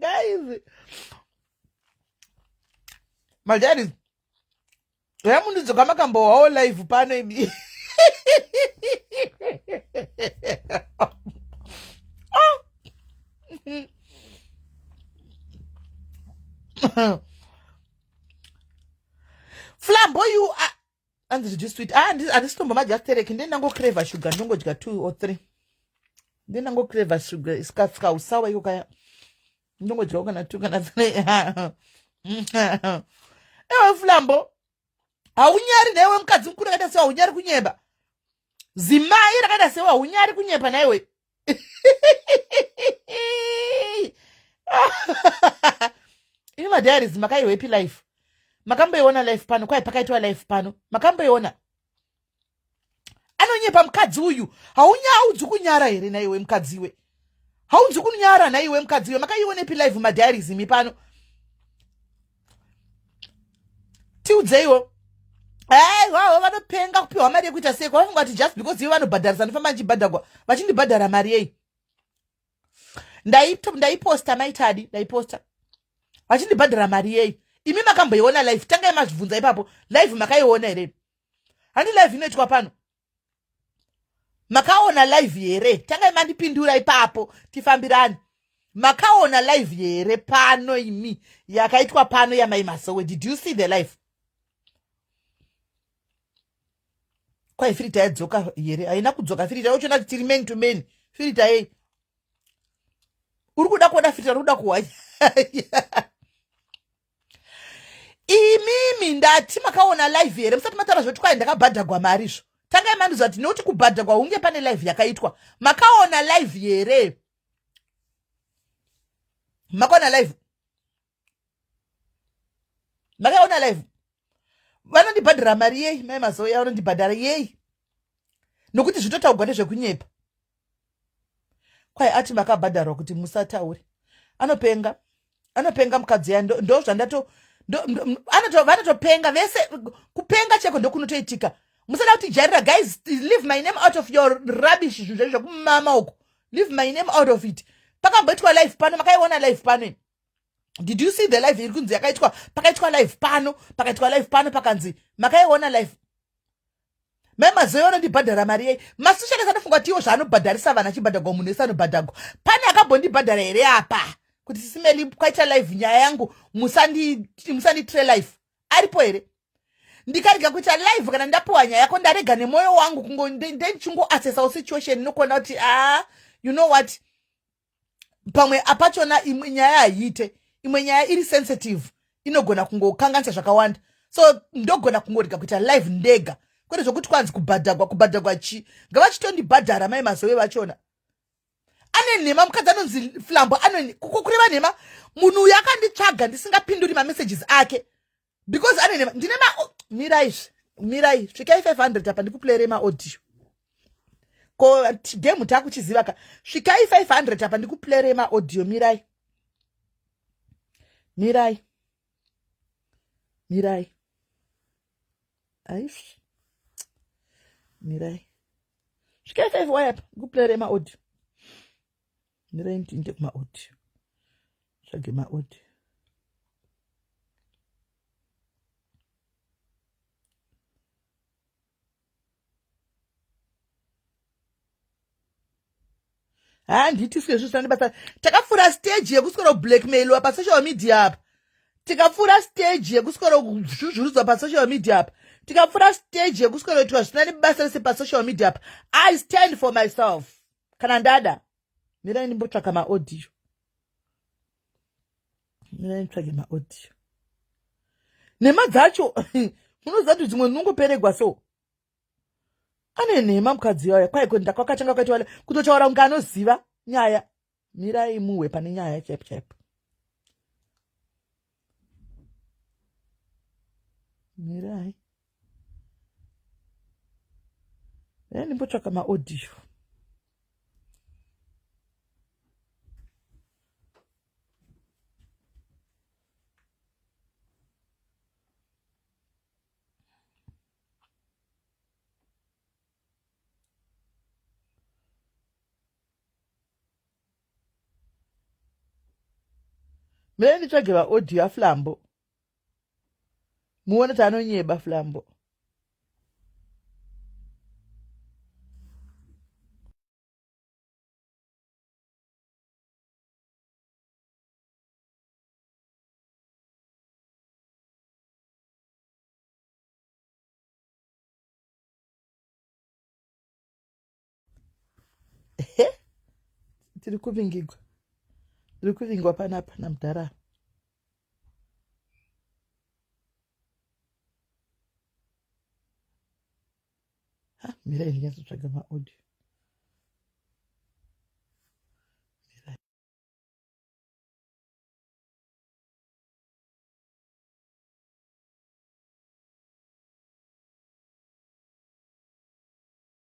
guys madhari ramundidzoka makambohwawo live pano imi flambo you are anzi zvidi sweet ah, handisitombomadya just tereki ndiye ndangocreva sugar ndongodya two or three ndiye ndangocreva sugar kausawa iko kaya ndongodyawo kana two kana three ewe flambo haunyari naiwe mukadzi mukuru akaita sewa unyari kunyeba zimai rakaita sewa unyari kunyepa naiwe ini madiaries makaiwepi life makamboiona life pano kwai pakaitwa life pano makamboiona anonyepa mukadzi uyu haunyaudzi kunyara here naiwe mukadziwe haunzi kunyara naiwe mukadziwe makaionepi live madiaries imi pano tiudzeiwo Hey, wavo vanopenga kupiwa mari yekuita sei kwavafunga kuti just because ivo vanobhadharisa ndifamba ndichibhadhagwa vachindibhadhara mari yei ndaiposta maitadi ndaiposta vachindibhadhara mari yei imi makamboiona live tangai mazvibvunza ipapo live makaiona here handi live inoitwa pano makaona live here tangai mandipindura ipapo tifambirani makaona live here pano imi yakaitwa pano yamai masowe did you see the live kwai firita yadzoka here haina kudzoka firita yochona kuti tiri many to many firita yei uri kuda kuona firita uri kuda kuhwanya imimi ndati makaona live here musati mataura zvekuti kwai ndakabhadhagwa mari izvo tangai mandiziva kuti nekuti kubhadhagwa hunge pane live yakaitwa makaona live here makaona live makaona live vanondibhadhara mari yei mai mazoya vanondibhadhara yei nokuti zvitotaugwa nezvekunyepa Kwai ati makabhadharwa kuti musataure. Anopenga. Anopenga mukadzi ya ndo zvandato vanotopenga vese kupenga cheko ndokunotoitika musada kuti jarira guys leave my name out of your rubbish zvinhu zvenyu zvekumama uko leave my name out of it pakamboitwa life pano makaiona life pano did you see the life iri kunzi yakaitwa pakaitwa life pano pakaitwa life pano pakanzi makaiona life mai mazoe vanondibhadhara mari yei masishaka sanofunga kuti iwo zvaanobhadharisa vana achibhadhagwa munhu wese anobhadhagwa pane akambondibhadhara here apa kuti sisimeli kwaita live nyaya yangu musanditre live aripo here ndikarega kuita live kana ndapiwa nyaya yako ndarega nemwoyo wangu kungondendichungoassesao situation nokuona kuti a ah, you know what pamwe apachona imwe nyaya haiite imwe nyaya iri sensitive inogona kungokanganisa zvakawanda so ndogona kungorega kuita live ndega kwete zvokuti kwanzi kubhadhagwa kubhadhagwa chii ngavachitondibhadhara mai mazove vachona ane nhema mukadzi anonzi flambo kukokure vanhema munhu uyo akanditsvaga ndisingapinduri mamesages ake because anene ndine ma mirai mirai svikai 500 apa ndikuplayere maaudio ko game takuchiziva ka svikai 500 apa ndikuplayere maaudio mirai mirai mirai aish mirai svikai 5 waya apa ndikuplayere maaudio mirai ndipinde kumaodi tsvage maodi handiti sike zvinhu zvandibasa takapfuura stage yekuswera kublackmailiwa pasocial media apa tikapfuura stage yekuswera kuzvuzvurudzwa pasocial media apa tikapfuura stage yekuswera kuitwa zvisina nebasa rese pasocial media apa i stand for myself kana ndada mirai ndimbotsvaka maaudio mirai nditsvage maaudio nhema dzacho munoziva kuti dzimwe ndinongoperegwa so ane nhema mukadzi yaya kwaiko ndakwakatanga kwaita wale kutotaura kunge anoziva nyaya mirai muhwe pane nyaya chaipo chaipo mirai dai ndimbotsvaka maaudio mire nditsvage vaaudio aflambo muone kuti anonyeba flambo he tiri kuvingigwa tiri kuvingwa panapa namudhara apa mira ndinyazotsvaga maaudio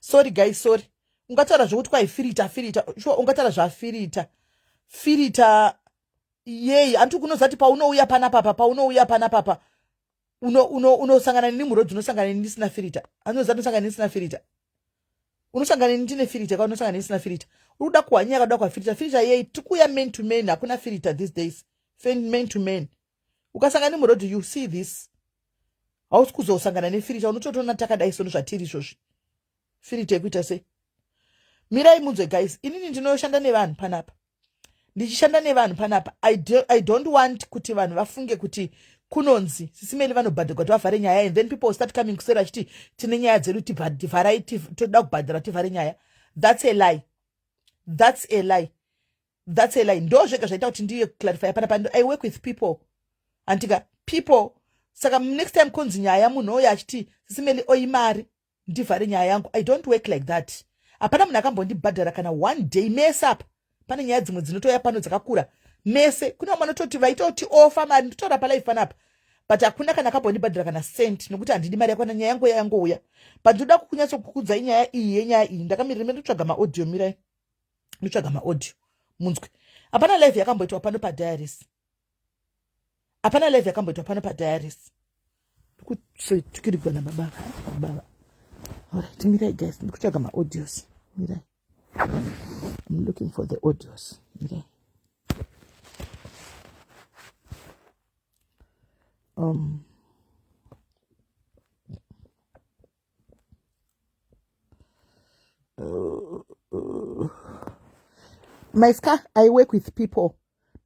sorry guys sorry ungataura zvekuti kwaifirita firita shuwa ungataura zvafirita firita yei hanti kunozati paunouya panapapa paunouya panapapa unosangana nini muroad unosangana nini ndisina firita anozati unosangana nini ndisina firita unosangana nini ndine firita ka unosangana nini ndisina firita uri kuda kuhwanyaya kakuda kwafirita firita yei tikuuya man to man hakuna firita these days man to man ukasanga nemuroad you see this hausi kuzosangana nefirita unototoona takadai sono zvatiri izvozvi firita yekuita sei mirai munzwe guys inini ndinoshanda nevanhu panapa ndichishanda nevanhu panapa I, do, i don't want kuti vanhu vafunge kuti kunonzi sisimeli vanobhadharwa kuti vavhare nyaya and then people start coming kuseri vachiti tine nyaya dzedu tivharai toda kubhadhara tivhare nyaya that's a lie that's a lie that's a lie ndo zvega zvaita kuti ndiye clarify hapana pano i work with people handika people saka next time kunzi nyaya munhu oyo achiti sisimeli oimari ndivhare nyaya yangu i don't work like that hapana munhu akambondibhadhara kana one day mese apa pane nyaya dzimwe dzinotouya pano dzakakura mese kune vamwe vanototi vaitoti ofa mari ndotaura palife panapa but hakuna kana akambondibhadhara kana cent nokuti handidi mari yakwana nyaya yangu yayangouya but ndoda kukunyatsokukudzai nyaya iyi yenyaya iyi ndakamirira mendotsvaga maaudio mirai ndotsvaga maaudio munzwe hapana live yakamboitwa pano padiaris hapana live yakamboitwa pano padiaris ndikutsvetukirigwa nababa baba orit mirai guys ndikutsvaga maaudios mirai im looking for the audios mirai um my ska i work with people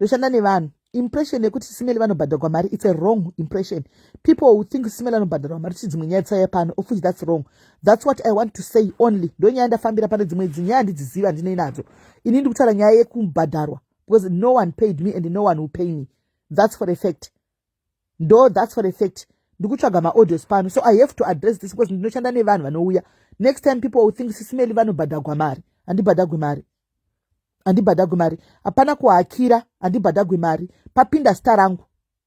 ndoshanda nevanhu impression yekuti simeli vanobhadharwa mari its a wrong impression people who think simeli vanobhadharwa mari ti dzimwe nyaya dzisaya pano of which that's wrong that's what i want to say only ndo nyaya ndafambira pane dzimwe idzi nyaya handidziziva ndine nadzo ini ndi kutaura nyaya yekubhadharwa because no one paid me and no one will pay me that's for a fact ndo that's for a fact ndikutsvaga maaudios pano so i have to address this because ndinoshanda nevanhu vanouya next time people will think sisimeli vanobhadhagwa mari handibhadhagwi mari handibhadhagwi mari hapana kuhakira handibhadhagwi mari papinda zita rangu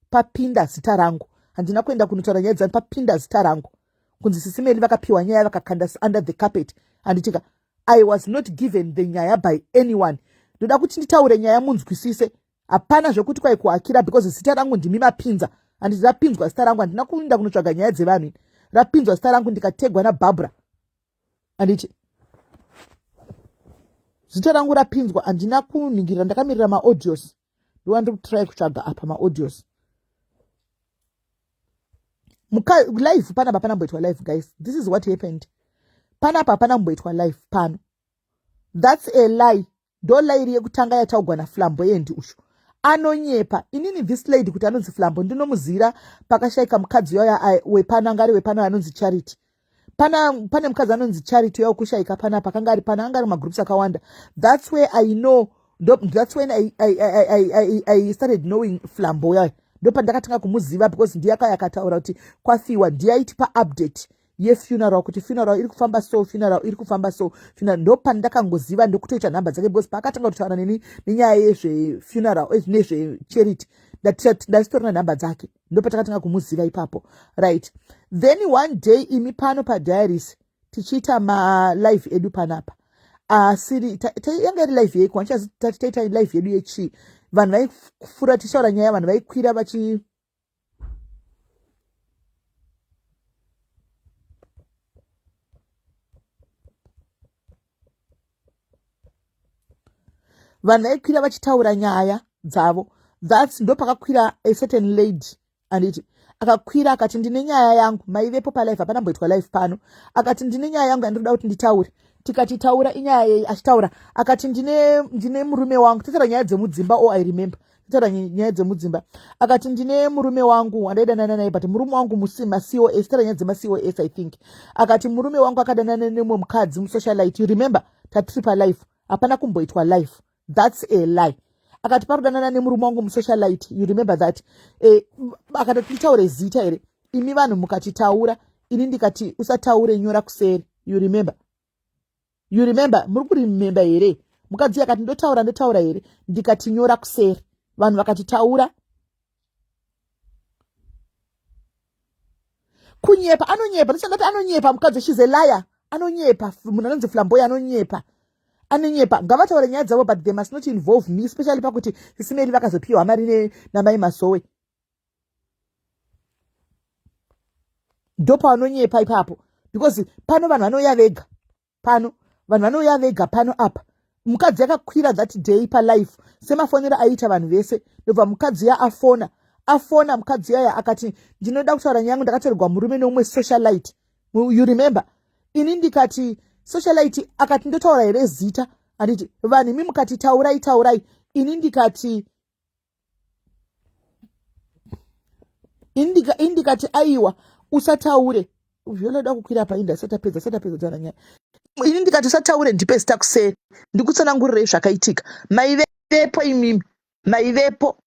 papinda zita rangu handina kuenda kunotaura nyaya dzani papinda zita rangu kunzi sisimeli vakapiwa nyaya vakakanda under the carpet handitika i was not given the nyaya by anyone ndoda kuti nditaure nyaya munzwisise hapana zvekuti kwai kuakira because zita rangu ndimi mapinza handiti rapinzwa zita rangu handina kuinda kunotsvaga nyaya dzevanhu ini rapinzwa zita rangu ndikategwa nabarbara handiti zita rangu rapinzwa handina kuningirira ndakamirira maaudios ndova ndiri kutrai kutsvaga apa maaudios live pana pa panamboitwa live guys this is what happened panapa panamboitwa live pano that's a lie ndolairi yekutanga yataugwa naflamboyend uyu anonyepa inini this lady kuti anonzi flambo ndinomuzira pakashaika mukadzi uyo wepano anga ari wepano anonzi charity pana pane mukadzi anonzi charity uya kushaika panapa akanga ari pano anga ari mumagroups akawanda thats where i know thats when I, I, I, I, I started knowing flambo uya ndo pandakatanga kumuziva because ndiye akaya akataura kuti kwafiwa ndiye aitipa update yefuneral kuti funeral iri kufamba so funeral iri kufamba so funeral ndopandakangoziva ndokutoita nhamba dzake because paakatanga kutaura neni nenyaya yezvefuneral eh, nezvecharity ndatitori na nhamba dzake ndopatakatanga kumuziva ipapo right then one day imi pano padiaris tichiita malive edu panapa asiri yanga iri live yeiko andichazi tati taita live yedu yechii vanhu vaifura tichaura nyaya vanhu vaikwira vachi vanhu vaikwira vachitaura nyaya dzavo thats ndopakakwira a certain lady anditi akakwira akati ndine nyaya yangu maivepo palife hapana mboitwa life pano akati ndine nyaya yangu yandinoda kuti nditaure tikati taura inyaya yei achitaura akati ndine, ndine murume wangu tataura nyaya dzemudzimba o oh, i remember taura nyaya dzemudzimba akati ndine murume wangu wandaidanana naye but murume wangu macos taura nyaya dzemacos i think akati murume wangu akadanana nemwe mukadzi musocialite remember tatiri palife hapana kumboitwa life thats a lie akati parudanana nemurume wangu musocialite you remember that eh, akati titaure zita here imi vanhu mukatitaura ini ndikati usataure nyora kuseri you remember you remember muri kuremember here mukadzi akati ndotaura ndotaura here ndikatinyora kuseri vanhu vakatitaura kunyepa anonyepa ndichandati anonyepa mukadzi she's a liar anonyepa munhu anonzi flamboy anonyepa anonyepa ngavataure nyaya dzavo but they must not involve me especially pakuti sisimeri vakazopiwa mari namai masowe ndopaanonyepa ipapo because pano vanhu vanouya vega pano vanhu vanouya vega pano apa mukadzi akakwira that day palife semafonero aiita vanhu vese ndobva mukadzi ya afona afona mukadzi yaya akati ndinoda kutaura nyangu ndakatorerwa murume neumwe socialite you remember ini ndikati socialite akati ndotaura here zita handiti vanhu imi mukati taurai taurai ini ndikati indika indikati aiwa usataure zvinoda kukwira painda asati apedza asati apedza taura nyaya ini ndikati usataure ndipe zita kuseri ndikutsanangurirei zvakaitika maivepo imimi maivepo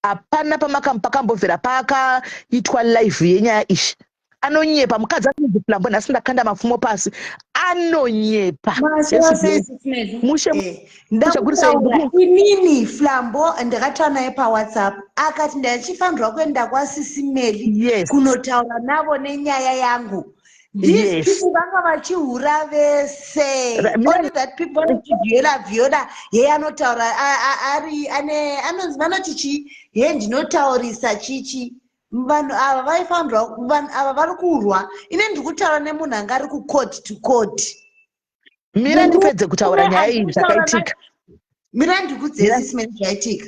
hapana pamakambovhera paakaitwa live yenyaya izvi anonyepa mukadzi anonzi flambo nhasi ndakanda mapfumo pasi anonyepa inini flambo ndakataura naye pawhatsapp akati ndaichifanirwa kuenda kwasisimeli yes. kunotaura navo nenyaya yangu these people vanga vachihura vese only that people vanotivhiola vhiola yeye anotaura ari ane anonzi vanoti chii ye ndinotaurisa chichi vanhu ava vaifanirwa vanhu ava vari kurwa ine ndiri kutaura nemunhu anga ari kucourt to court mira ndipedze kutaura nyaya iyi zvakaitika mira ndikudzesisi mene zvaitika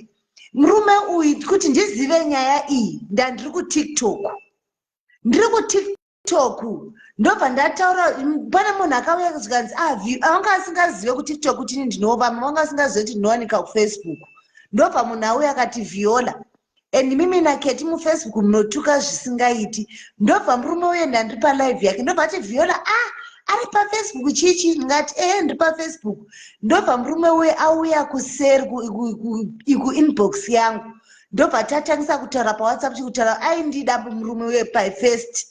murume uyu kuti ndizive nyaya iyi ndandiri kutiktok ndiri kutiktok tiktok ndobva ndataura pane munhu akauya zvikanzi ah, vanga asingazive kutiktok kuti ini ndinova vamwe vanga asingazive kuti ndinowanika kufacebook ndobva munhu auya akati viola and mimi naketi mufacebook munotuka zvisingaiti ndobva murume uye ndandiri palive yake ndobva ati viola ah ari pafacebook chichi ndingati ehe ndiri pafacebook ndobva murume uye auya kuseri kuinbox yangu ndobva tatangisa kutaura pawhatsapp tichi kutaura aindida murume uye pafirst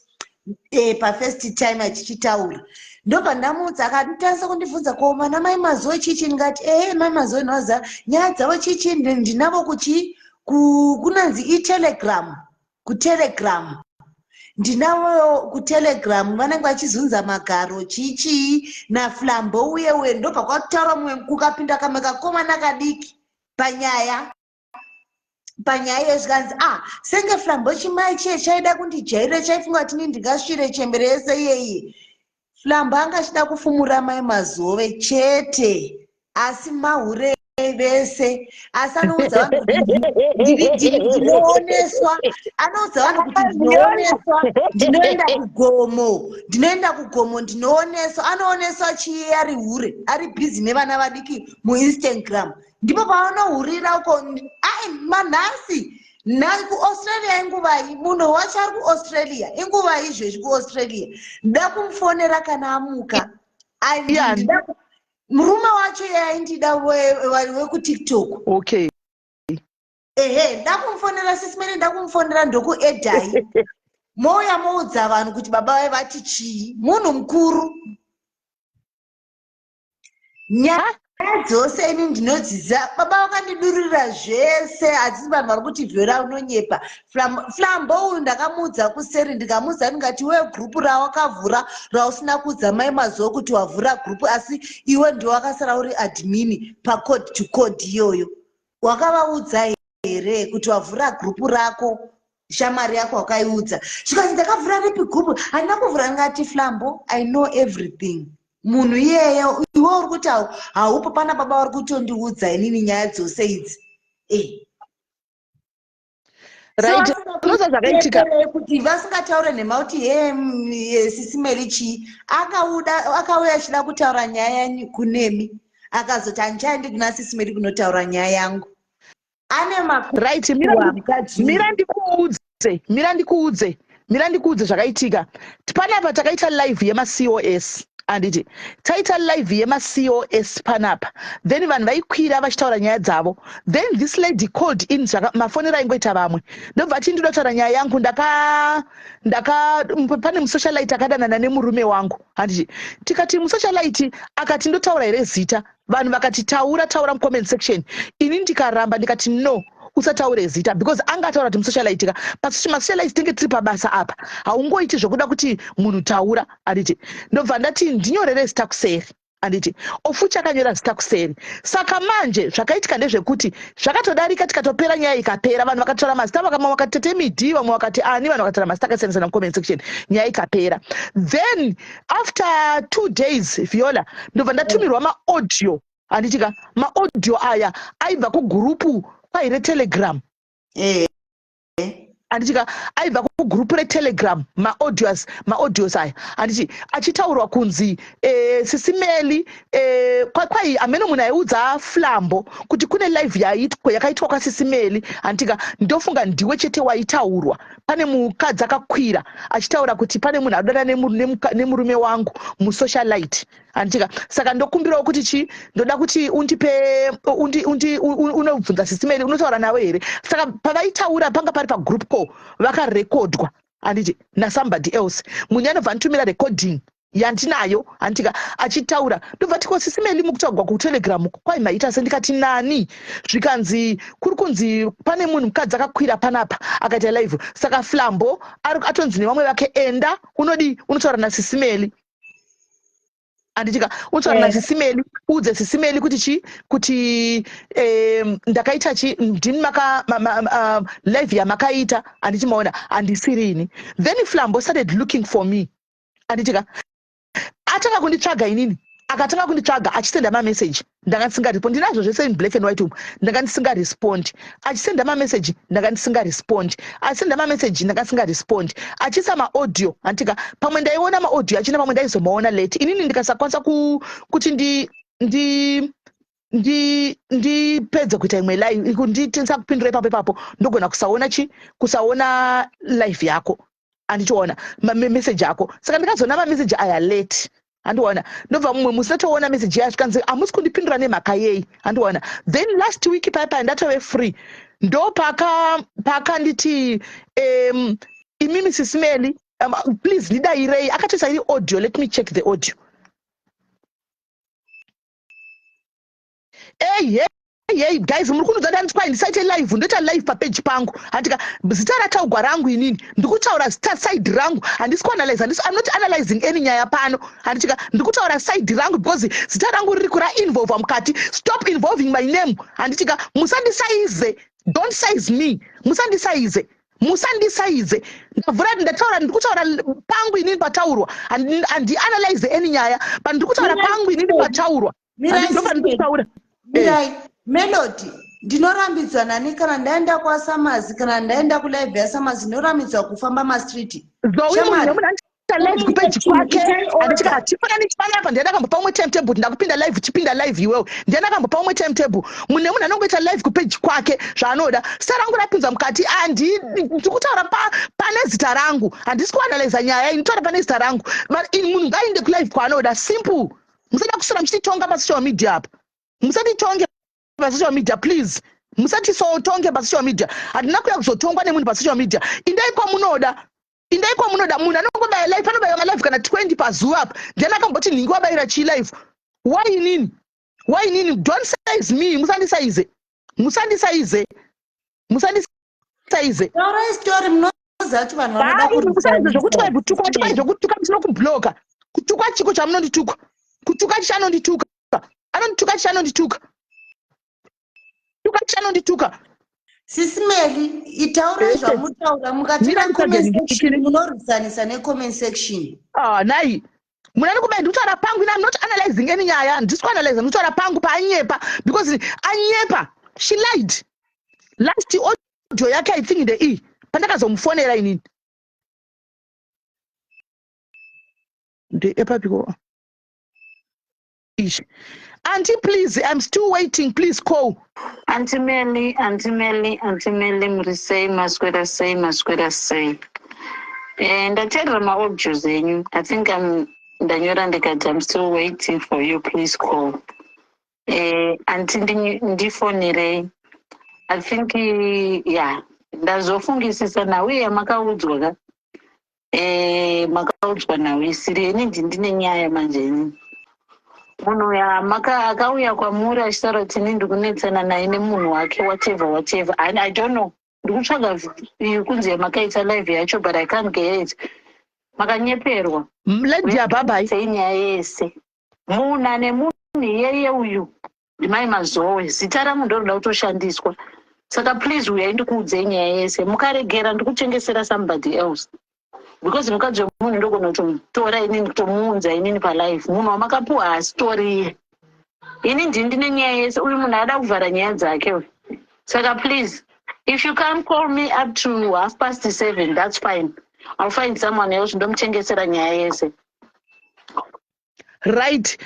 eh, pafirst time achichitaura ndobva ndamutsa akatangisa kundibvunza ko mwana mai mazoe chichi ndikati ehe mai mazoe ndinoziva nyaya dzavo chichi ndinavo kuchi kunanzi itelegram kutelegram ndinavo kutelegram vanenge vachizunza magaro chichii naflambo uye uye ndobva kwakutaura mumwe kukapinda kamwe kakomana kadiki panyaya panyaya iye zvikanzi ah senge flambo chimai chiye chaida kundijairira chaifunga kuti ni ndingasvire chembere yese iyeye flambo anga achida kufumura mai mazove chete asi mahure vese asi anoudza vanhu kuti ndiri dii ndinooneswa anoudza vanhu kuti ndinooneswa ndinoenda kugomo ndinoenda kugomo ndinooneswa anooneswa chiye ari hure ari bhizi nevana vadiki muinstagram ndipo pavanohurira uko ai manhasi nhasi kuaustralia inguvai munhu wacho ari kuaustralia inguvai izvezvi kuaustralia nda kumufonera kana amuka murume wacho yaindida wekutiktok okay ehe ndakumufonera sisimene ndakumufonera ndokuedai mouya moudza vanhu kuti baba vai vati chii munhu mukuru nyaya dzose ini ndinodzidza baba vakandidururira zvese asi vanhu vari kuti vhera unonyepa flambo uyu ndakamuudza kuseri ndikamuudza ndingati iwe gurupu rawakavhura rausina kuudza mai mazuva kuti wavhura gurupu asi iwe ndiwe wakasara uri admini pacode to code iyoyo wakavaudza here kuti wavhura gurupu rako shamwari yako wakaiudza zvikanzi ndakavhura ripi gumbo handina kuvhura ngati flambo i know everything munhu iyeye iwe uri kuti haupo pana baba vari kutondiudza inini nyaya dzose idzi e kuti vasingataure nhema kuti he sisi meri chii akauya achida kutaura nyaya yanyu kunemi akazoti handichaendi kuna sisi meri kunotaura nyaya yangu ane makuru right mira wa mukadzi mira ndikuudze mira ndikuudze mira ndikuudze zvakaitika panapa takaita live yemacos handiti taita live yemacos panapa then vanhu vaikwira vachitaura nyaya dzavo then this lady called in mafonero aingoita vamwe ndobva ati ndinoda kutaura nyaya yangu ndaka ndaka pane musocialite akadanana nemurume wangu handiti tikati musocialite akati ndotaura here zita vanhu vakati taura taura mucomment section ini ndikaramba ndikati no usataure zita because anga ataura kuti musocialitika but masocialite tinge tiri pabasa apa haungoiti zvekuda kuti munhu taura anditi ndobva ndati ndinyorere zita kuseri anditi ofuti akanyora zita kuseri saka manje zvakaitika ndezvekuti zvakatodarika tikatopera nyaya ikapera vanhu vakataura mazita vakama vakati tete midi vamwe vakati ani vanhu vakataura mazita akasiyana sana mucomment section nyaya ikapera then after two days viola ndobva ndatumirwa maaudio handitika maaudio aya aibva kugurupu kwai retelegram eh. handitika aibva kugurupu retelegram maaudios maaudios aya handiti achitaurwa kunzi eh, sisimeli eh, kwai ameno munhu aiudza flambo kuti kune live yaitwa yakaitwa kwasisimeli handitika ndofunga ndiwe chete waitaurwa pane mukadzi akakwira achitaura kuti pane munhu adana nemurume wangu musocialite anditika saka ndokumbirawo kuti chii ndoda kuti undipe unobvunza sisimeri unotaura navo here saka pavaitaura panga pari pagroup call vakarekodwa anditi nasomebody else munhu anobva anditumira recording yandinayo handitika achitaura ndobva tiko sisi meli mukutaugwa kutelegram kwai maita se ndikati nani zvikanzi kuri kunzi pane munhu mukadzi akakwira panapa akaita live saka flambo atonzi nevamwe vake enda unodii unotaura nasisi meli anditika utsvara na sisimeli eh. uudze sisimeli kuti chii kuti um, ndakaita chii ndini maka ma, ma, ma, um, live yamakaita anditi maona handisirini then flambo started looking for me anditika atanga kunditsvaga inini akatanga kunditsvaga achisenda mameseji ndanga ndisingaripo ndinazvo zvese in black and white umu ndanga ndisingarespondi achisenda mameseji ndanga ndisingarespondi achisenda mameseji ndanga ndisingarespondi achiisa maaudio hantika pamwe ndaiona maaudio achina pamwe ndaizomaona late inini ndikasakwanisa kuti ndi ndi ndi ndipedze kuita imwe live nditisa kupindura ipapo ipapo ndogona kusaona chi kusaona live yako andichiona mameseji ako saka ndikazoona mameseji aya late handiona ndobva mumwe musi tatoona meseji yayo zvikanzi hamusi kundipindura nemhaka yei handiona then last week paya paya ndatove free ndo pakanditi paka um, imimi sisimeli um, please ndidairei akatoisa iri audio let me check the audio ehe yei guys muri kunudza ndani kwai ndisaite live ndoita live papeji pangu handika zita rataugwa rangu inini ndikutaura zita side rangu handisi kuanalyze handisi i'm not analyzing any nyaya pano handitika ndikutaura side rangu because zita rangu riri kura involva mukati stop involving my name handitika musandisaize don't size me musandisaize musandisaize ndavhura ndataura ndiri kutaura pangu inini pataurwa handianalyze any nyaya but ndiri kutaura pangu inini pataurwa mirai mirai melody ndinorambidza nani kana ndaenda kwasamazi kana ndaenda kulive yasamazi ndinorambidzwa kufamba mastreet ndaiaaifananichipanapa ndiana kambopa umwe time table ndakupinda live chipinda live iwewo ndiana kambopa umwe time table mune munhu anongoita live kupeji kwake zvaanoda sa rangu rapinza mukati ndikutaura pane zita rangu handisi kuanaliza nyaya ini taura pane zita rangu munhu ngaainde kulive kwaanoda simple musada kusara muchititonga pasocial media apa musatitonge pasocial media please musatisotonge pasocial media hatina kuya kuzotongwa nemunhu pasocial media indai kwamunoda indai kwamunoda munhu anongobaya life anobaiwa malife kana 20 pazuva apa then akamboti nhingi wabaira chii life why inini why inini don't size me musandisaize musandisaize musandisaize taurai story munoziva kuti vanhu vanoda kumusaize zvokuti kwai kutuka kuti kwai zvokutuka musina kubloka kutuka chiko chamunondituka kutuka chichanondituka anondituka chichanondituka tuka chichanondituka sisi meli itaurai zvamunotaura mukati comment section munorwisanisa necomment section ah nai munhu ari kuba ndikutaura pangu ina not analyzing any nyaya handisi kuanalyza ndikutaura pangu paanyepa because anyepa she lied last audio yake i think the e pandakazomufonera inini ndeepapiko Ish. Auntie, please, I'm still waiting. Please call. Auntie Melly, Auntie Melly, Auntie Melly, muri sei, maswera sei, maswera sei. Eh, ndateerera maaudios enyu. I think I'm ndanyora ndikati I'm still waiting for you. Please call. Eh, Auntie ndi- ndifonerei. I think, eh, yeah, ndazofungisisa nhau yamakaudzwa ka. Eh, makaudzwa nhau isiri ini ndi- ndine nyaya manje ini munhu uya maka akauya kwamuri achitaura kuti ini ndiri kunetsana naye nemunhu wake whatever whatever and i don't know ndiri kutsvaga v- iyo kunzi yamakaita live yacho but i can't get it makanyeperwa lady ababa iyi sei nyaya yese munhu ane munhu iyeye uyu ndimai mazowe zita rangu ndorinoda kutoshandiswa saka please uyai ndikuudzei nyaya yese mukaregera ndikutengesera somebody else because mukadzi wemunhu ndogona kutomutora inini kutomuunza inini palife munhu wamakapuwa haasitoriye ini ndii ndine nyaya yese uyu munhu ada kuvhara nyaya dzake we saka please if you can call me up to half past seven that's fine i'll find someone else ndomutengesera nyaya yese right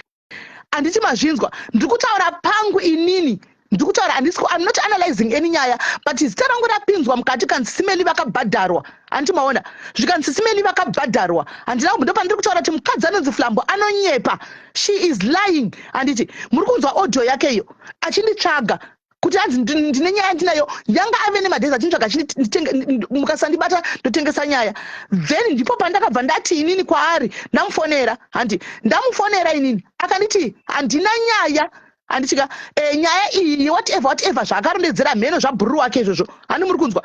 anditi mazvinzwa ndiri kutaura pangu inini ndiri kutaura andisi im not analyzing any nyaya but zita rangu rapinzwa mukati kanzi simeli vakabhadharwa anditi maona zvikanzi simeli vakabhadharwa handina kumbo ndopandiri kutaura kuti mukadzi anonzi flambo anonyepa she is lying anditi muri kunzwa audio yake iyo achinditsvaga kuti anzi ndine nyaya yandinayo yanga ave nemadhezi achinitsvaga chimukasandibata ndotengesa nyaya then ndipo pandakabva ndati inini kwaari ndamufonera handi ndamufonera inini akanditi handina nyaya handitika e, eh, nyaya iyi whatever whatever zvaakarondedzera mheno zvabhururu wake izvozvo handi muri kunzwa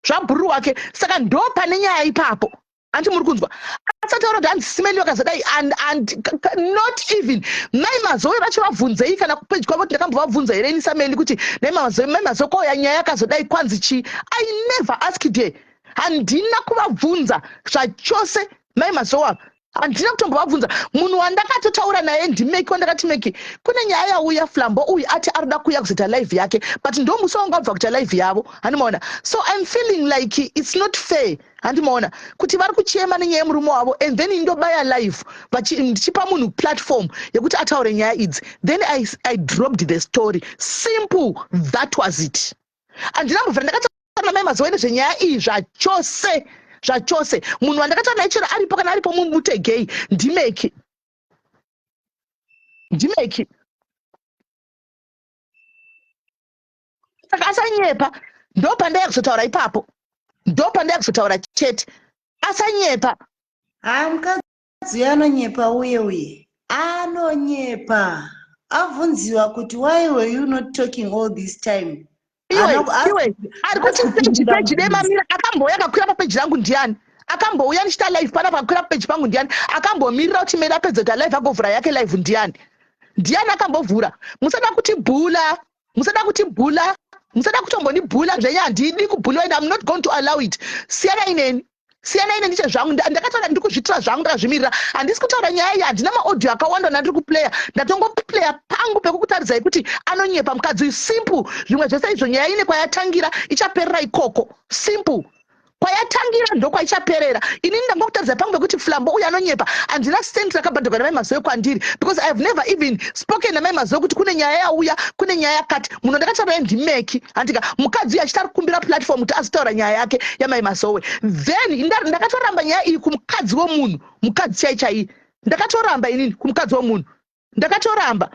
zvabhururu wake saka ndo pane nyaya ipapo hanti muri kunzwa asataura kuti hanzi simeni wakazadai and and not even mai mazowe vacho vabvunzei kana kupeji kwavo kuti ndakambovabvunza here ini sameni kuti nai mazowe mai mazowe kwauya nyaya yakazodai kwanzi chii i never asked her handina kuvabvunza zvachose mai mazowe ava handina kutombovabvunza munhu wandakatotaura naye ndimeki wandakati meki kune nyaya yauya flambo uyu ati arida kuuya kuzoita live yake but ndomusi wanga abva kuita live yavo handimaona so im feeling like its not fair handi maona kuti vari kuchema nenyaya yemurume wavo and then indobaya live ndichipa munhu platform yekuti ataure nyaya idzi then I, i dropped the story simple that was it handina mbovira ndakataura namai mazowe nezvenyaya iyi zvachose zvachose munhu wandakataura naye chero aripo kana aripo mumutegei ndimeki ndimeki saka asanyepa ndopandaya kuzotaura ipapo ndopandaya kuzotaura chete asanyepa haa mukadzi anonyepa uye uye anonyepa avhunziwa kuti why were you not talking all this time ari kuti peji peji demamira akambouya akakwira papeji rangu ndiani akambouya ndichita live pana pakakwira papeji pangu ndiani akambomirira kuti meda apedza kuti alive agovhura yake live ndiani ndiani akambovhura musada kuti bhula musada kuti bhula musada kutomboni bhula zvenyu handidi kubhuliwa and im not going to allow it siyana ineni siyana ine ndiche zvangu ndakataura ndiri kuzvitira zvangu ndakazvimirira handisi kutaura nyaya iyi handina maaudio akawanda nandiri kuplaya ndatongoplaya pangu pekukutaridzai kuti anonyepa mukadzi uyu simple zvimwe zvese izvo nyaya ine kwayatangira ichaperera ikoko simple kwayatangira ndokwaichaperera inini ndanga kutaridza pangu pekuti flambo uyu anonyepa handina stent rakabhadhagwa namai mazoe kwandiri because i have never even spoken namai mazoe kuti kune nyaya yauya kune nyaya yakati munhu ndakataura ndimeki handika mukadzi uyu achiti ari kukumbira platform kuti azotaura nyaya yake yamai mazoe then ndakatoramba nyaya iyi kumukadzi womunhu mukadzi chai chaiye ndakatoramba inini kumukadzi womunhu ndakatoramba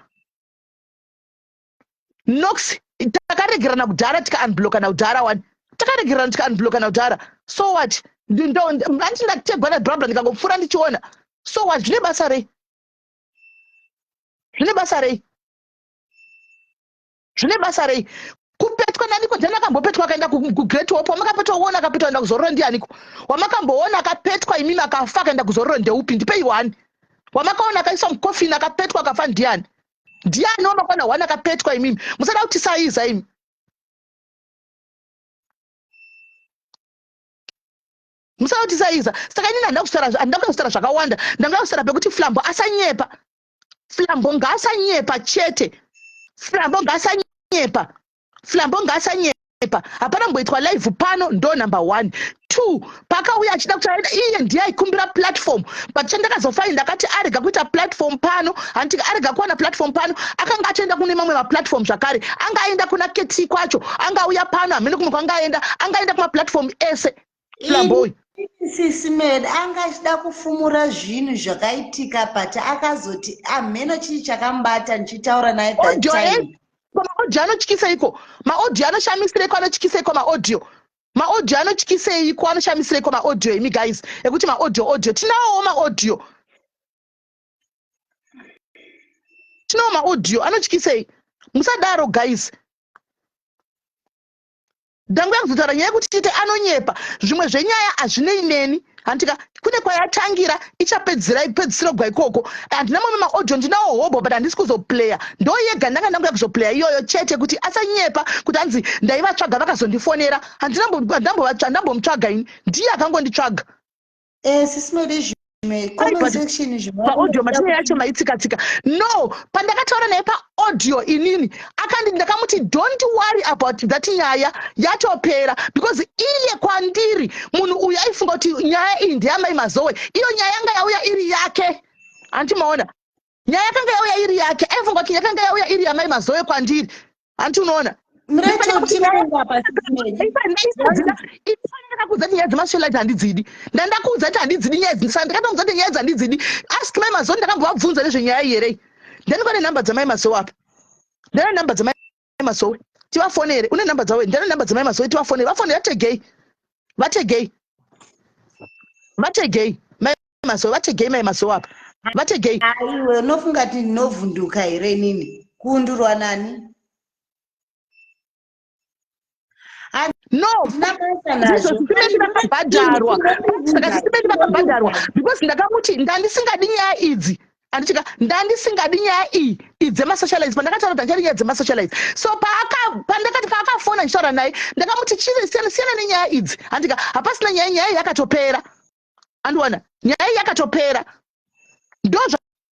nox takaregerana kudhara tika unblockana kudhara wani takaregerana tika unblockana kudhara so what anditi ndategwa nabrabra ndikangopfuura ndichiona so what zvine basa rei zvine basa rei zvine basa rei kupetwa naniko ndiani akambopetwa akaenda kugreat hope wamakapetwa uona akapetwa aenda kuzorora ndianiko wamakamboona akapetwa imimi akafa akaenda kuzorora ndeupi ndipei wani wamakaona akaiswa mukofini akapetwa akafa ndiani ndiani wamakwana hwani akapetwa imimi musada kuti saiza imi musada kuti saiza saka inini handida kutaura handida kuda kutaura zvakawanda ndanga kutaura pekuti flambo asanyepa flambo ngaasanyepa chete flambo ngaasanyepa flambo ngaasanyepa hapana kumboitwa live pano ndo number one two pakauya achida kuti aenda iye ndiye aikumbira platform but chandakazofaini ndakati arega kuita platform pano hanti arega kuwana platform pano akanga atoenda kune mamwe maplatform zvakare anga aenda kuna kt kwacho anga auya pano hamene kumwe kwanga aenda anga aenda kumaplatform ese flamboy sisi med anga achida kufumura zvinhu zvakaitika but akazoti amheno chii chakamubata ndichitaura naye that audio time ese maaudio anotyiseiko maaudio anoshamiseiko anotyiseiko maaudio maaudio anotyiseiko anoshamiseiko maaudio imi guys ekuti maaudio audio tinawowo maaudio tinawo maaudio anotyisei musadaro guys Dangwe akuzotara nyaya yekuti chite anonyepa zvimwe zvenyaya hazvinei neni hantika kune kwayatangira ichapedzira ipedzisiro gwa ikoko handina mamwe maaudio ndinawo hobho but handisi kuzoplaya ndo yega ndanga ndanga kuzoplaya iyoyo chete kuti asanyepa kuti hanzi ndaivatsvaga vakazondifonera handinambovatsvaga ini ndiye akangonditsvaga Eh, sisi made zvimwe Ai, comment but- section zvimwe. paaudio matinei yacho maitsikatsika no pandakataura naye paaudio inini akandi ndakamuti don't worry about that nyaya yatopera because iye kwandiri munhu uyu aifunga kuti nyaya iyi ndeyamai mazowe iyo nyaya yanga yauya iri yake hanti maona nyaya yakanga yauya iri yake aifunga kuti yakanga yauya iri yamai mazoe kwandiri hanti unoona ifanira kuudza kuti nyaya dzemashelite handidzidi ndandakuudza kuti handidzidi nyaya idzi saka ndikatoudza kuti nyaya idzi handidzidi ask mai mazoe ndakambovabvunza nezvenyaya iyi here ndandiva nenhamba dzamai mazoe apa ndana nhamba dzamai mai masowe tivafonere une number dzavo ndane number dzamai masowe tivafonere vafonere vategei vategei vategei mai masowe vategei mai masowe apa vategei aiwe unofunga ti ndinovhunduka here inini kuundurwa nani no ndizvo sitimeti vakabhadharwa saka sitimeti vakabhadharwa because ndakamuti ndandisingadi nyaya idzi andichika ndandisingadi nyaya iyi idzemasocialize pandakataura kuti andichadi nyaya dzemasocialize so pandakati paakafona ndichitaura naye ndakamuti chii siyana siyana nenyaya idzi andika hapasina nyaya nyaya yakatopera andiwana nyaya yakatopera ndozva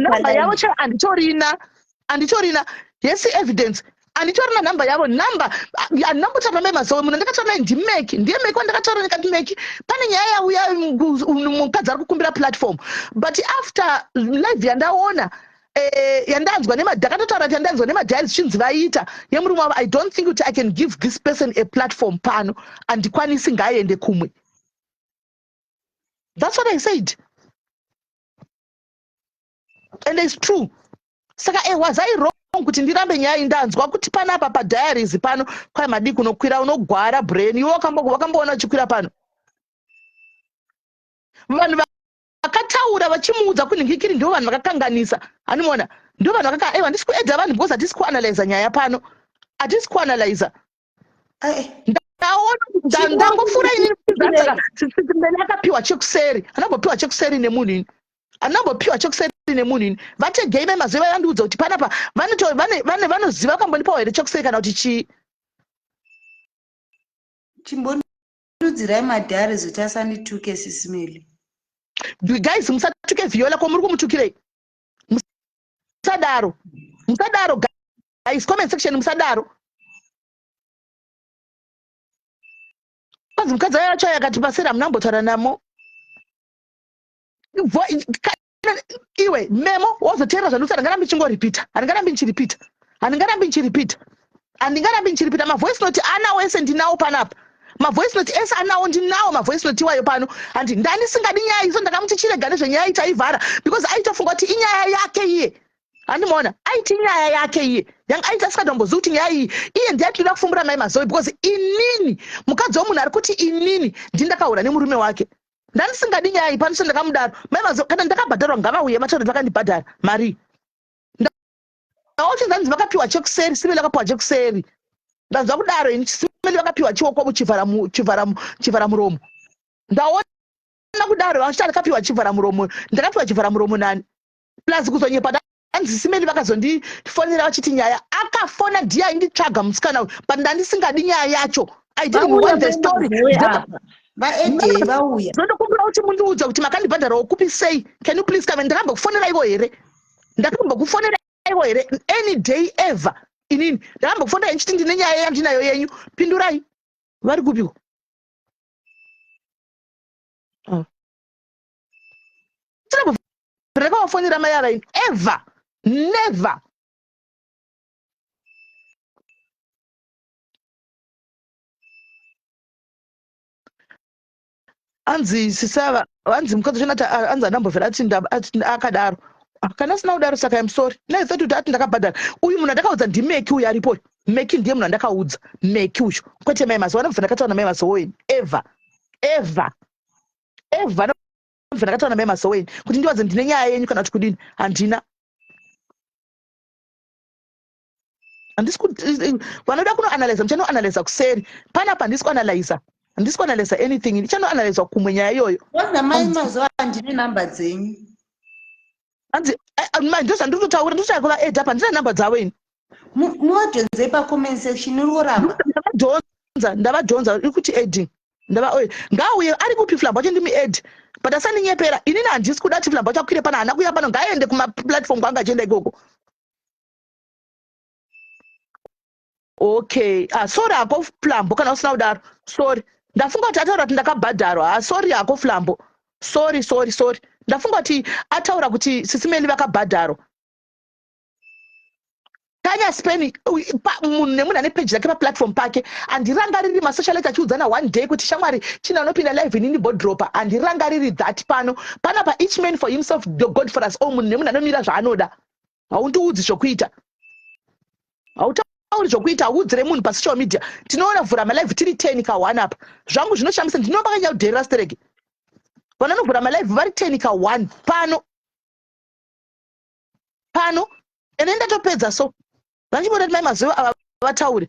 namba yavo chero anditorina anditorina hesi evidence anditorina namba yavo namba andinambotaura mai mazowe muno ndakataura nai ndimeki ndiye meki wandakataura ndikati meki pane nyaya yauya mukadzi ari kukumbira platform but after live yandaona eh, yandanzwa ndakatotaura kuti yandanzwa nemadhai zvichinzi vaita yemurume wavo i don't think kuti i can give this person a platform pano andikwanisi ngaaende kumwe That's what I said. And it's true. Saka eh, was I wrong kuti ndirambe nyaya indanzwa kuti panapa padiaries pano kwai madii kunokwira unogwara brain iwe wakamboona uchikwira pano vanhu vakataura vachimuudza kunhingikiri ndivo vanhu vakakanganisa hanimona ndivo vanhu vakaka ewa handisi kuedza vanhu because hatisi kuanalyza nyaya pano hatisi kuanalyza ndangofura inini akapiwa chekuseri anambopiwa chekuseri nemunhu ini anambopiwa chekuseri nemunhu ini vategei mai maziva vandiudza kuti panapa vanoziva vakambonipawo here chekuseri kana kuti chii chimbondudzirai madhare zoti asandituke sisimeli guys musatuke viola ko muri kumutukirei musadaro musadaro guys comment section musadaro kwanzi mukadzi ayo acho yakati pasera hamuna kumbotaura namo iwe memo wozoteerera zvandiusa handingarambi ndichingoripita handingarambi ndichiripita handingarambi ndichiripita handingarambi ndichiripita mavoice note ana wese ndinawo panapa mavoice note ese anawo ndinawo mavoice note iwayo pano handi ndandisingadi nyaya izo ndakamuti chirega nezvenyaya itaivhara because aitofunga kuti inyaya yake iye handimaona aiti nyaya yake iye yanga aiti asikatombozivi kuti nyaya iyi iye ndiaitoda kufumbura mai mazoe because inini mukadzi womunhu ari kuti inini ndindakahura nemurume wake ndandisingadi nyaya iyi panoso ndakamudaro mai mazoe kana ndakabhadharwa ngavauye vataure vakandibhadhara marii Naoche zvanzi vakapiwa chekuseri, Simeli vakapiwa chekuseri. Ndanzwa kudaro ini Simeli vakapiwa chioko chivhara chivhara chivhara muromo. Ndaona kudaro vachita vakapiwa chivhara muromo. Ndakapiwa chivhara muromo nani? Plus kuzonyepa hanzi simeni vakazondifonera vachiti nyaya akafona ndiye ainditsvaga musikana uyu but ndandisingadi nyaya yacho ididnwanthestoryndokumbira kuti mundiudza kuti makandibhadharawo kupi sei can you please kave ndakambokufonera ivo here ndakambokufonera ivo here any day ever inini ndakambokufonera henyu chiti ndine nyaya yandinayo yenyu pindurai vari kupiwo oh. ndakavafonera mai ava ini ever never anzi sisava anzi mukadzi chena ta anzi andambovera ati akadaro kana sina kudaro saka im sorry nai thought kuti ati ndakabhadhara uyu munhu andakaudza ndimeki uyu aripo uyu meki ndiye munhu andakaudza meki uyu kwete mai masowe anobva ndakataura namai masowe ini ever ever ever anobva ndakataura namai masowe ini kuti ndiwadze ndine nyaya yenyu kana kuti kudini handina handisi vanoda kunoanalyza muchanoanalyza kuseri panapa handisi kuanalyza handisi kuanalyza anything ndichanoanalyza kumwe nyaya iyoyo wazamai mazuva andine number dzenyu hanzi eh, eh, mai ndozvandiri kutaura ndosvika kuva ed apa handina number dzavo ini muvajonzei pacoment section uri kuramba ndavadhonza ndavadhonza iri kuti edi ndava oye ngauye ari kupi flamba wacho ndimi edi but asandinyepera inini handisi kuda kuti flamba wacho akwire pana hana kuya pano ngaaende kumaplatform kwanga achienda ikoko okay ah, sorry hako flambo kana usina kudaro sorry ndafunga kuti ataura kuti ndakabhadharwa ah, sorry hako flambo sorry sorry sorry ndafunga kuti ataura kuti sisimeni vakabhadharwa tanya spain munhu nemunhu ane peji rake paplatform pake handirangariri masocialite achiudzana one day kuti shamwari china unopinda live inini bodropa handirangariri that pano panapa each man for himself god for us all munhu nemunhu anomira zvaanoda haundiudzi zvokuita hautauri zvokuita hauudzire munhu pasocial media tinoona vhura malive tiri ten ka one apa zvangu zvinoshamisa ndinoba kanyaya kudherera stereki vanonovhura malive vari ten ka one pano pano ene ndatopedza so vandichiboda kuti mai mazuva ava vataure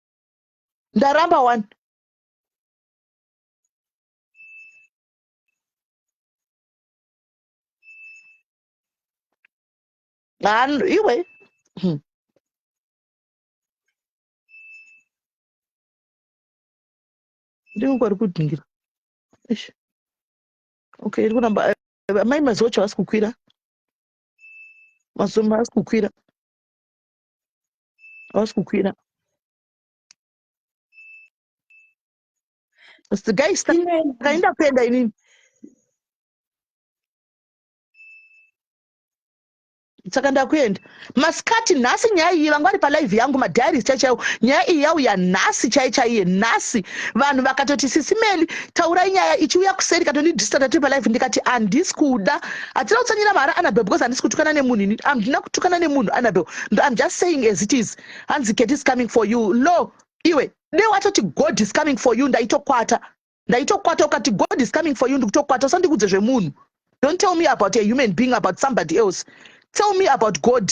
ndaramba wani iwe hmm. ndikungori kudhingira okay iri kuramba amai mazocha vasi kukwira mazocha vasi kukwira hausi kukwira guys takaenda kuenda inini saka ndakuenda masikati nhasi nyaya iyi vanga vari palive yangu madiaries chai chaiwo nyaya iyi yauya nhasi chai chaiye nhasi vanhu vakatoti sisimeli taurai nyaya ichiuya kuseri katondidistata tiri palive ndikati handisi kuda Hatina kutsanyira mahara Annabel because handisi kutukana nemunhu ini handina kutukana nemunhu Annabel ndo I'm just saying as it is hanzi Ketty is coming for you lo iwe dei watoti God is coming for you ndaitokwata ndaitokwata ukati God is coming for you ndikutokwata usandikudze zvemunhu don't tell me about a human being about somebody else tell me about God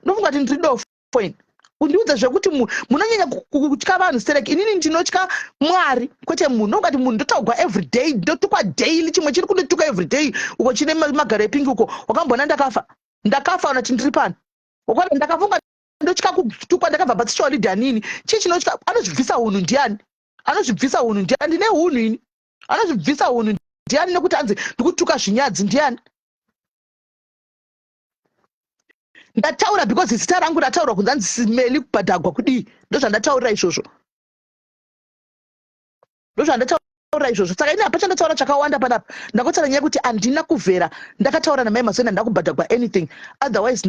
ndofunga kuti ndiri dofo point kundiudza zvekuti munhu munonyanya kutya vanhu sterek inini ndinotya mwari kwete munhu nokungati munhu ndotogwa everyday ndotukwa daily chimwe chiri kundotuka everyday uko chine magaro epingi uko wakamboona ndakafa ndakafa ona kuti ndiri pano wakona ndakafunga ndotya kutukwa ndakabva patsisha walidi anini chii chinotya anozvibvisa hunhu ndiani anozvibvisa hunhu ndiani ndine hunhu ini anozvibvisa hunhu ndiani nekuti anzi ndikutuka zvinyadzi ndiani ndataura because zita rangu rataurwa kunzi anzi simeli kubhadhagwa kudii ndozvandataurira izvozvo ndozvandataura izvozvo saka ini hapa chandataura chakawanda panapa ndakotsara nyaya kuti handina kuvhera ndakataura namai mazoni handina kubhadhagwa anything otherwise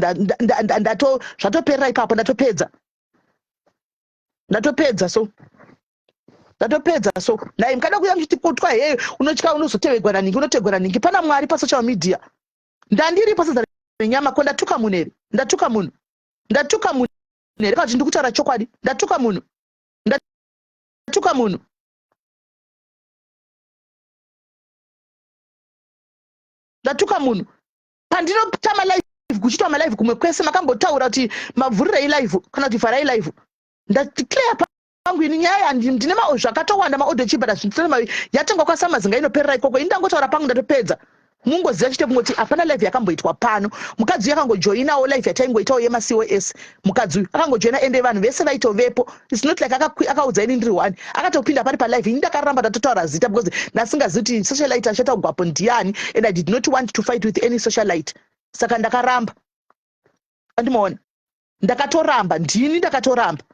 zvatopera ipapo ndatopedza ndatopedza so ndatopedza so nai mukada kuya muchiti kutwa heyo unotya unozotevegwa naningi unotegwa naningi pana mwari pasocial media ndandiripo sadza renyama ko ndatuka munhu here ndatuka munhu ndatuka munhu here kana kuti ndikutaura chokwadi ndatuka munhu ndatuka munhu ndatuka munhu pandinota malive kuchitwa malive kumwe kwese makambotaura kuti mavhurirei live kana kuti vharai live ndatiklea vangu ini nyaya ya ndine ma zvakatowanda ma audio chibhara zvinsele mavi yatengwa kwa samazinga inoperera ikoko ini ndangotaura pangu ndatopedza mungoziva chete kungoti hapana life yakamboitwa pano mukadzi uyu akangojoinawo life yataingoitawo yema cos mukadzi uyu akangojoina ende vanhu vese vaitovepo its not like akaudza ini ndiri one akatopinda pari palife ini ndakaramba ndatotaura zita because ndasingazivi kuti socialite achata kugwapo ndiani and i did not want to fight with any socialite saka ndakaramba andimaona ndakatoramba ndini ndakatoramba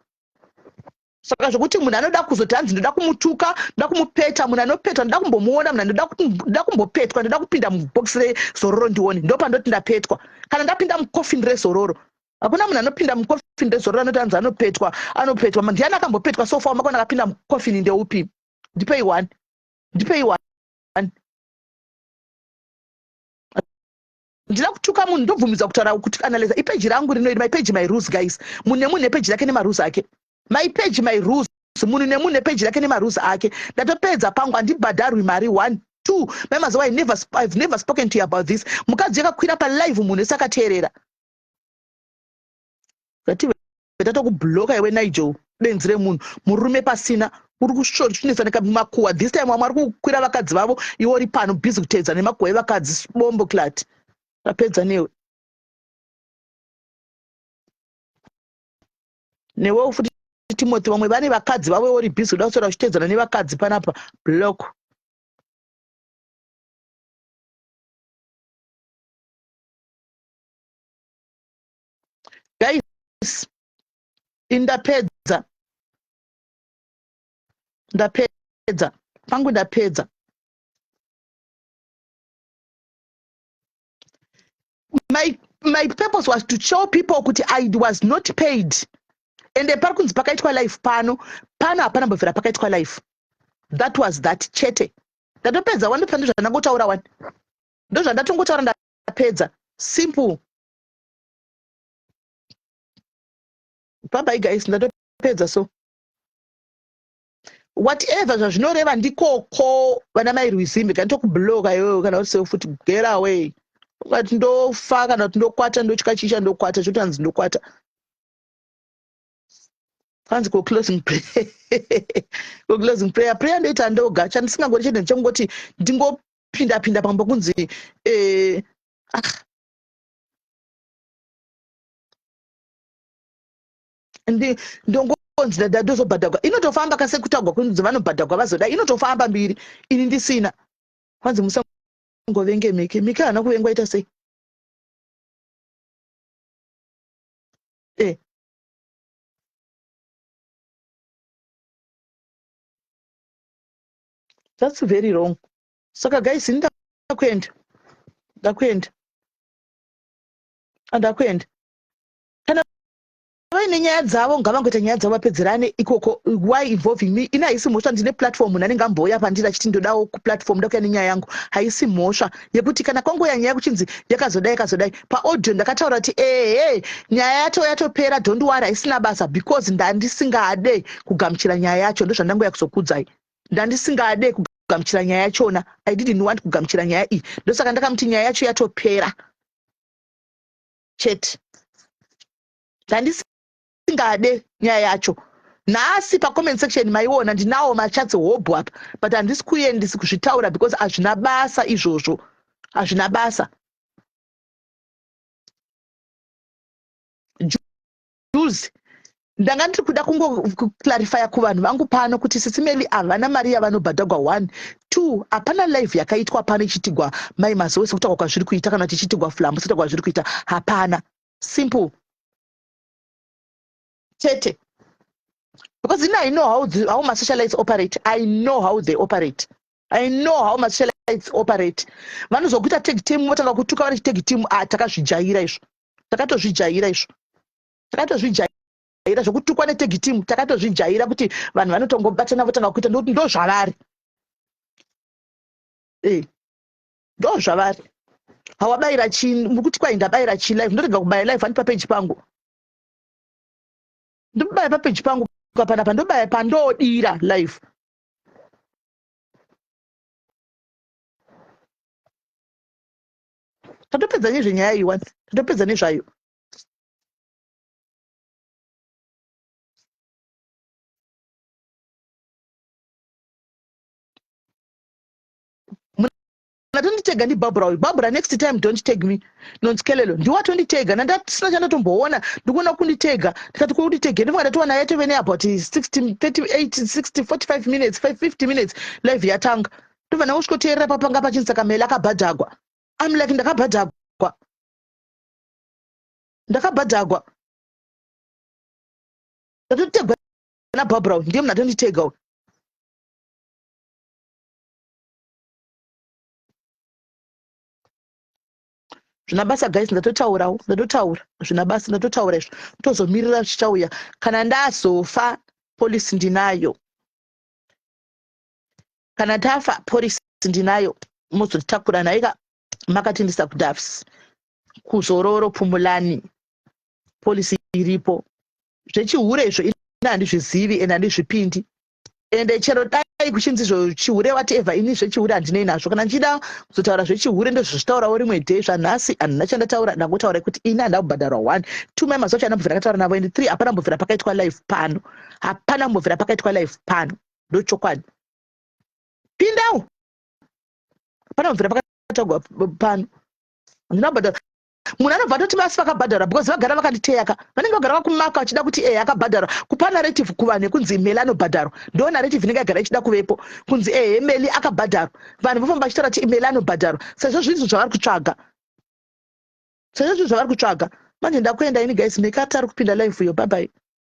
saka zvekuti munhu anoda kuzoti hanzi ndoda kumutuka ndoda kumupeta munhu anopetwa ndoda kumbomuona munhu ndoda kumbopetwa ndoda kupinda mubhokisi rezororo ndione ndo pandoti ndapetwa kana ndapinda mukofini rezororo hakuna munhu anopinda mukofini rezororo anoti hanzi anopetwa anopetwa ndiani akambopetwa sofa wamakona akapinda mukofini ndeupi ndipei one ndipei one ndina kutuka munhu ndobvumidzwa kutaura kuti analyza ipeji rangu rino iri my page my rules guys munhu nemunhu nepeji rake nemarules ake my page my rules munhu nemunhu nepeji rake nemarules ake ndatopedza pangu handibhadharwi mari one two mai mazowa never, i've never spoken to you about this mukadzi yakakwira palive munhu ese akateerera ndatokubloka iwe nigel benzi remunhu murume pasina uri kusvotsinisa nemakuwa this time vamwe vari kukwira vakadzi vavo iwe uri pano busy kuteedza nemakuwa evakadzi bombo clat tapedza newe newewo futi timothy vamwe vane vakadzi vavo iwe uri busy kuda kusora uchiteedzana nevakadzi panapa block guys indapedza ndapedza pangu ndapedza my, my purpose was to show people kuti i was not paid ende pari kunzi pakaitwa life pano pano hapana mbovhera pakaitwa life that was that chete ndatopedza wani pano zvandangotaura wani ndozvandatongotaura ndapedza simple bhabhai guys ndatopedza so whatever zvazvinoreva ndikoko vana mai rwizimbe kana tokubloka iwewe kana uri seo futi get away ukati ndofa kana kuti ndokwata ndotya chicha ndokwata chotanzi ndokwata kwanzi ko closing prayer ko closing prayer prayer ndoita ndoga chandisingangori chete ndichangoti ndingopinda pinda pambo kunzi eh, ah, ndongonzi dada ndozobhadhagwa inotofamba ka sekutagwa kunzi vanobhadhagwa vazoda inotofamba mbiri ini ndisina kwanzi musangovenge mike mike haana kuvengwa ita sei eh. that's very wrong saka guys ini ndakuenda ndakuenda andakuenda kana vaine nyaya dzavo ngavangoita nyaya dzavo vapedzerane ikoko why involving me ini haisi mhosva ndine platform munhu anenge ambouya pandiri achiti ndodawo kuplatform ndakuya nenyaya yangu haisi mhosva yekuti kana kwangoya nyaya kuchinzi yakazodai yakazodai paaudio ndakataura kuti ehe nyaya yato yatopera don't wari haisina basa because ndandisingade kugamuchira nyaya yacho ndozvandangouya kuzokudzai ndandisingade kugamuchira nyaya yachona i didn't want kugamuchira nyaya iyi ndosaka ndakamuti nyaya yacho yatopera chete ndandisingade nyaya yacho nhasi pacomment section maiona ndinawo machatsi hobho apa but handisi kuendisi kuzvitaura because hazvina basa izvozvo hazvina basa use ndanga ndiri kuda kungoclarifya kuvanhu vangu pano kuti sisi meli havana mari yavanobhadhagwa one two hapana live yakaitwa pano ichitigwa mai mazowe sekutaurwa kwazviri kuita kana kuti ichitigwa flambo sekutaurwa kwazviri kuita hapana simple chete because ini i know how, the, how masocialites operate i know how they operate i know how mashellites operate vanozokuita tag team votanga kutuka vari chitag team a ah, takazvijaira izvo takatozvijaira izvo takatozvijaira zvekutukwa netag team takatozvijaira kuti vanhu vanotongobatana votanga kuita ndokuti ndo zvavari eh, ndo zvavari hawabaira chi mukuti kwai ndabaira chi life ndorega kubaya life ani papeji pangu ndobaya papeji pangu kapanapa ndobaya pandodira life tatopedza nezvenyaya iyi wani tatopedza nezvayo atonditega ndibarbra uyu barbra next time don't tag me nonzi kelelo ndiwo atonditega nandasina chandatomboona ndikuona kunditega ndikati kunditege ndinonga ndatoona yatove neabout 60 38 60 45 minutes 550 minutes live yatanga ndobva ndangosvikoteerera papanga pachinzi saka mele akabhadhagwa am like ndakabhadhagwa ndakabhadhagwa ndatotegwa nabarbra uyu ndiye munhu atonditega uyu zvina basa guys ndatotaurawo ndatotaura zvina basa ndatotaura izvo tozomirira zvichauya kana ndazofa polisi ndinayo kana tafa polisi ndinayo mozotitakura naika makatindisa kudafs kuzororo pumulani polisi iripo zvechihure izvo ini handizvizivi and handizvipindi ende chero dai kuchinzi zvechihure whatever ini zvechihure handinei nazvo kana ndichida kuzotaura zvechihure ndozvitaurawo rimwe day zvanhasi handina chandataura ndangotaura kuti ini handina kubhadharwa one two mai mazacho haana mbovira akataura navo and three hapana mbovira pakaitwa life pano hapana mbovira pakaitwa life pano ndochokwadi pindawo hapana mbovira pakataurwa pano handina kubhadharwa munhu anobva atoti masi vakabhadharwa because vagara vakanditeyaka vanenge vagara vakumaka vachida kuti e akabhadharwa kupa narrative kuvanhu yekunzi imeli anobhadharwa ndo narrative inenge yagara ichida kuvepo kunzi e eh, imeli akabhadharwa vanhu vofamba vachitaura kuti imeli anobhadharwa sezvo zvinhu zvavari kutsvaga sezvo zvinhu zvavari kutsvaga manje ndakuenda ini guys mekatari kupinda live yo babai